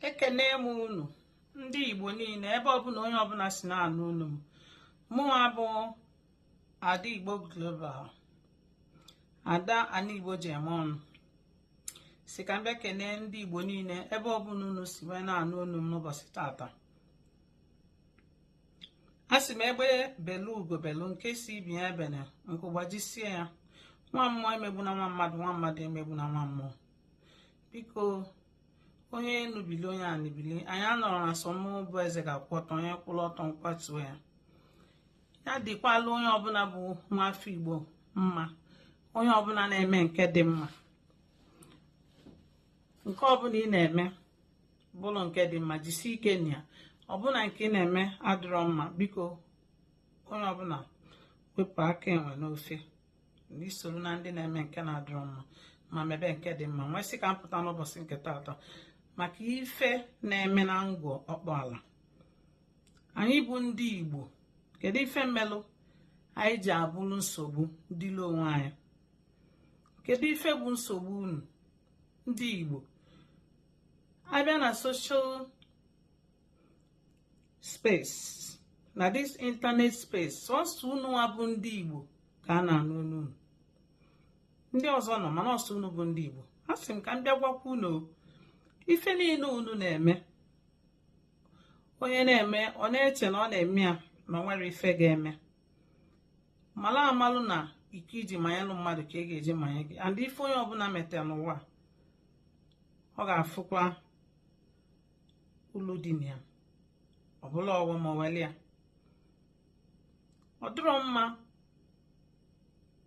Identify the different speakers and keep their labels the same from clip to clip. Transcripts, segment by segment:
Speaker 1: ekene m unu ndị igbo niile ebe ọbụla onye ọbụla si na-anụ onu m mụnwa bụ ada igbo global ada ana igbo ji eme ọnụ sị ka m bịa kene ndị igbo niile ebe ọbụla unu si wee na-anụ onu m n'ụbọchị taata a sị m egbe belu ugo belu nke sị ibe ya ebene nku gbajisie ya nwa mmụọ emegbuna nwa mmadụ nwa mmadụ emegbuna nwa mmụọ biko onye enu bili onye ani bili anyị anọrọ na sọ mụ bụ eze ga-akwụ ọtọ onye kwụrụ ọtọ m kwatuo ya ya dịkwalụ onye ọbụla bụ nwa afọ igbo mma onye ọbụla na-eme nke dị mma nke ọbụla ị na-eme bụrụ nke dị mma jisi ike na ya ọ bụ na nke ị na-eme adịrọ mma biko onye ọbụla wepụ aka enwe n'ofe i soro na ndị na-eme nke na-adịrọ mma ma mebe nke dị mma m wee sị ka m pụta n'ụbọchị nke taata maka ife na-eme na Ngor Okpala anyị bụ ndị Igbo kedu ife melụ anyị ji abụrụ nsogbu dịlị onwe anyị kedu ife bụ nsogbu unu ndị Igbo a bịa na social space na this internet space sọsọ unu nwa bụ ndị Igbo ka a na-anụ onu unu ndị ọzọ nọ mana ọ sọ unu bụ ndị Igbo a sị m ka m bịa gwakwa unu ife niile unu na-eme onye na-eme ọ na-eche na ọ na-eme ya na o nwerọ ife ga-eme malụ amalụ na iko i ji manyelụ mmadụ ka a ga-eji manye gị and ife onye ọbụla metalụ n'ụwa ọ ga-afụkwa ulu dị na ya ọ bụlụ ọghọm ma weli ya ọ dịrọ mma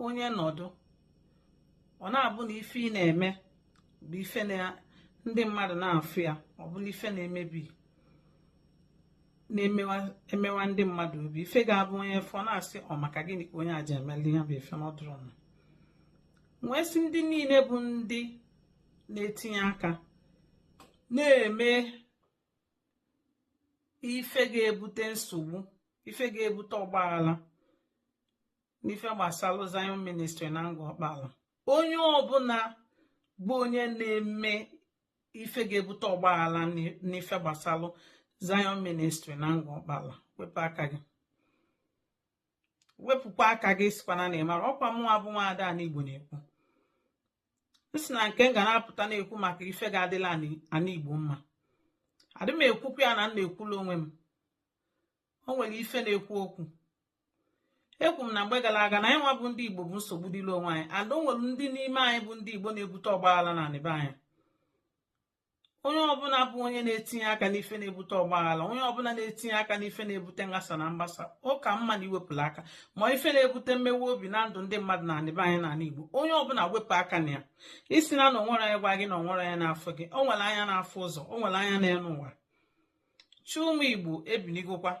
Speaker 1: onye nọdụ ọ na-abụ na ife ị na-eme bụ ife ndị mmadụ na-afụ ya ọ bụlụ ife na-emebi na-emewa ndị mmadụ obi ife ga-abụ onye fụ ọ na-asị ọ maka gịnị ka onye a ji emeli ya bụ ife na ọ dịrọ mma m wee sị ndị niile bụ ndị na-etinye aka na-eme ife ga-ebute nsogbu ife ga-ebute ọgbaghara n'ife gbasalụ Zion ministry na Ngor Okpala onye ọbụla bụ onye na-eme ife ga-ebute ọgbaghara n'ife gbasalụ Zion ministry na Ngor Okpala wepụ aka gị wepụkwa aka gị sịkwana na ị marọ ọkwa mụnwa bụ nwa ada ana Igbo na-ekwu m sị na nke m ga na-apụta na-ekwu maka ife ga-adịlị ana Igbo mma adị m ekwukwu ya na m na-ekwulu onwe m o nwere ife na-ekwu okwu ekwu m na mgbe gara aga na anyị nwa bụ ndị igbo bụ nsogbu dịrị onwe anyị ada o nwere ndị n'ime anyị bụ ndị igbo na-ebute ọgbaghara na anị be anyị onye ọbụla bụ onye na-etinye aka n'ife na-ebute ọgbaghara onye ọbụla na-etinye aka n'ife na-ebute nghasa na mgbasa ọ ka mma na i wepụla aka ma ife na-ebute mmewe obi na ndụ ndị mmadụ na anị be anyị n'ala Igbo onye ọbụla wepụ aka na ya ị sịna na onwerọ onye gwa gị na onwere anya na-afụ gị o nwere anya na-afụ ụzọ o nwere anya n'elu ụwa chi ụmụ igbo ebinigokwa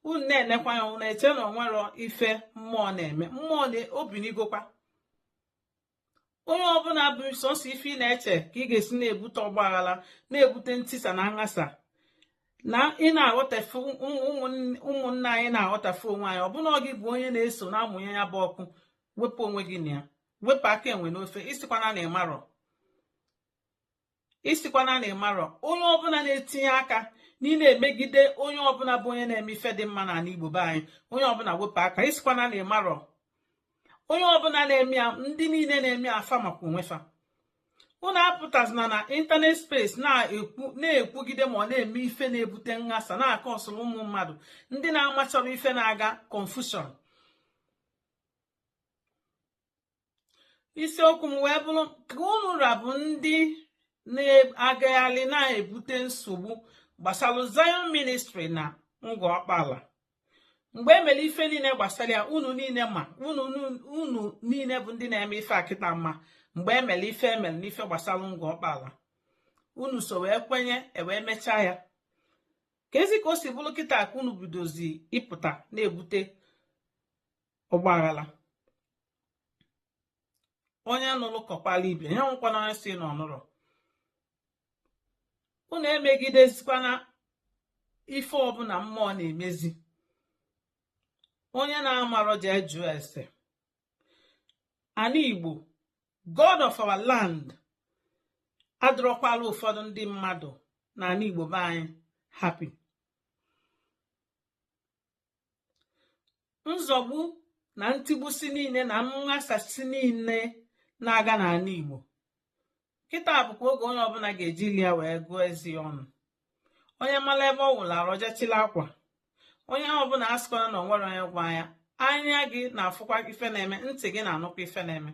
Speaker 1: unu na-enekwa ya unu na-eche na onwerọ ife mmụọ na-eme mmụọ na o binigokwa onye ọbụla bụ sọsọ ife ị na-eche ka ị ga-esi na-ebute ọgbaghara na-ebute ntisa na nghasa na ị na-aghọtafe ụmụnna anyị na-aghọtafe onwe anyị ọ bụ na ọ gị bụ onye na-eso na-amụnye ya bụ ọkụ wepụ onwe gị na ya wepụ aka enwe n'ofe ị sịkwana na ị marọ ị sịkwana na ị marọ onye ọbụla na-etinye aka na ị na-emegide onye ọbụla bụ onye na-eme ife dị mma n'ala Igbo be anyị onye ọbụla wepụ aka ị sịkwana na ị marọ onye ọbụla na-eme ya ndị niile na-eme ya fa makwa onwe fa unu apụtazina na ịntanet space na-ekwugide ma ọ na-eme ife na-ebute nghasa na-akọsụrụ ụmụ mmadụ ndị na-amacharọ ife na-aga confusion isiokwu m wee bụrụ ka unu nwa bụ ndị na-agagharị na-ebute nsogbu gbasara Zion ministry na Ngor Okpala mgbe e mere ife niile gbasara ya unu niile ma unu niile bụ ndị na-eme ife a kịta ma mgbe e mere ife e mere n'ife gbasara Ngor Okpala unu so wee kwenye e wee mechaa ya kezi ka o si bụrụ kịta ka unu bidozi ịpụta na-ebute ọgbaghara onye nụrụ kọkwala ibe ya nwekwana onye sị na ọ nụrọ unu emegidezikwana ife ọbụla mmụọ na-emezi onye na-amarọ jee jụọ ese ana igbo god of our land adịrọkwala ụfọdụ ndị mmadụ na ana igbo be anyị happy nzọgbu na ntigbusi niile na nghasasị niile na-aga n'ala Igbo kịta bụkwa oge onye ọbụla ga-eji ile ya wee gụọ eze ọnụ onye mara ebe ọ wụlụ arụ jee chịlị akwa onye ọbụla asịkwana na onwerọ onye gwa ya anya gị na-afụkwa ife na-eme ntị gị na-anụkwa ife na-eme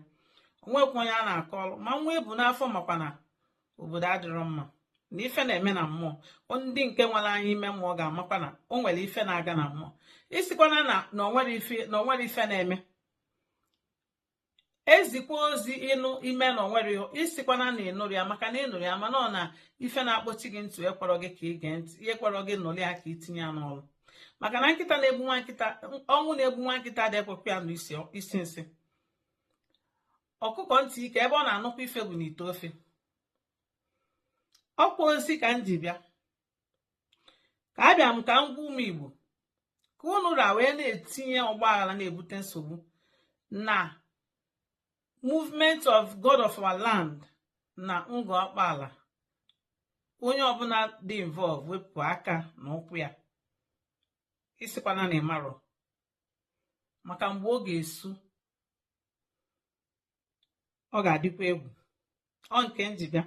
Speaker 1: onwekwa onye a na-akọrọ ma nwa e bu n'afọ makwa na obodo adịrọ mma na ife na-eme na mmụọ ndị nke nwere anya ime mmụọ ga-amakwa na o nwere ife na-aga na mmụọ ịsịkwana na o nwere ife na-eme ezikwa ozi ịnụ ime na onwere ịsịkwana na ịnụrọ ya maka na ịnụrụ ya mana ọ na ife na-akpọchi gị ntị ekwerọ gị ka ị gee ntị ekwerọ gị nụrụ ya ka itinye ya n'ọrụ maka na nkịta na-egbu nwa nkịta ọnwụ na-egbu nwa nkịta adị ekwekwa ya anụ isi nsị ọkụkọ ntị ike ebe ọ na-anụkwa ife bụ n'ite ofe ọkwa ozi ka m ji bịa ka abịa m ka m gwa ụmụ igbo ka unu ra wee na-etinye ọgbaghara na-ebute nsogbu na movement of god of our land na ngọ ọkpaala onye ọbụla dị involve wepụ aka na ụkwụ ya ịsịkwana na ịmarọ maka mgbe ọ ga-esu ọ ga-adịkwa egwu ọ nke m ji bịa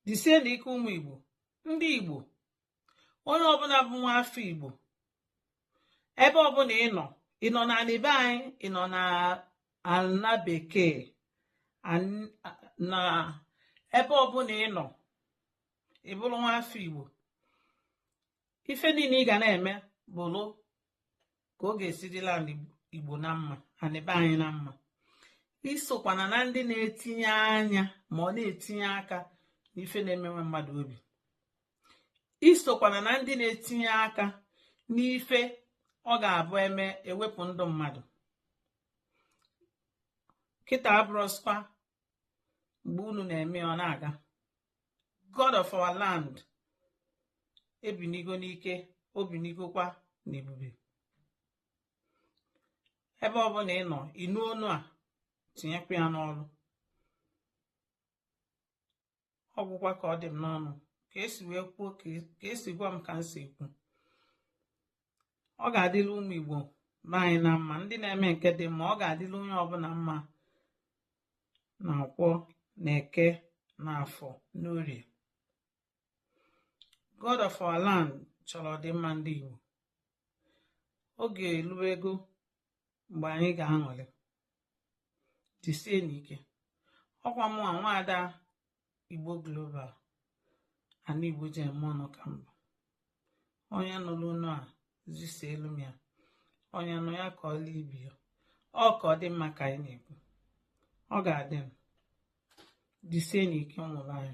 Speaker 1: jisie na ike ụmụ igbo ndị igbo onye ọbụla bụ nwa afọ igbo ebe ọbụla ị nọ ị nọ n'anị be anyị ị nọ n'ala bekee na ebe ọbụla ị nọ ị bụrụ nwa afọ igbo ife niile ị ga na-eme bụrụ ka ọ ga-esi dịrị ndị igbo na mma anị be anyị na mma isokwana na ndị na-etinye anya ma ọ na-etinye aka n'ife na-emewe mmadụ obi isokwana na ndị na-etinye aka n'ife ọ ga-abụ eme ewepụ ndụ mmadụ kịta abụrọzịkwa mgbe unu na-eme ọ na-aga god of our land ebinigo n'ike o binigokwa n'ebube ebe ọbụla ị nọ ịnụ onu a tinyekwa ya n'ọrụ ọ gwụkwa ka ọ dị m n'ọnụ ka esi wee kwuo ka esi gwa m ka m si ekwu ọ ga-adịrị ụmụ Igbo be anyị na mma ndị na-eme nke dị mma ọ ga-adịrị onye ọbụla mma na nkwọ na eke na afọ n'orie God of our land chọrọ ọdịmma ndị Igbo oge eluwego mgbe anyị ga-aṅụrị jisie n'ike ọkwa mụnwa nwaada Igbo Global ana Igbo ji eme ọnụ ka m bụ onye nụrụ onu a zisielụ m ya onye nụ ya kọọla ibe ya ọ ka ọ dị mma ka anyị na-ekwu ọ ga-adị m jisie n'ike ụmụ anyị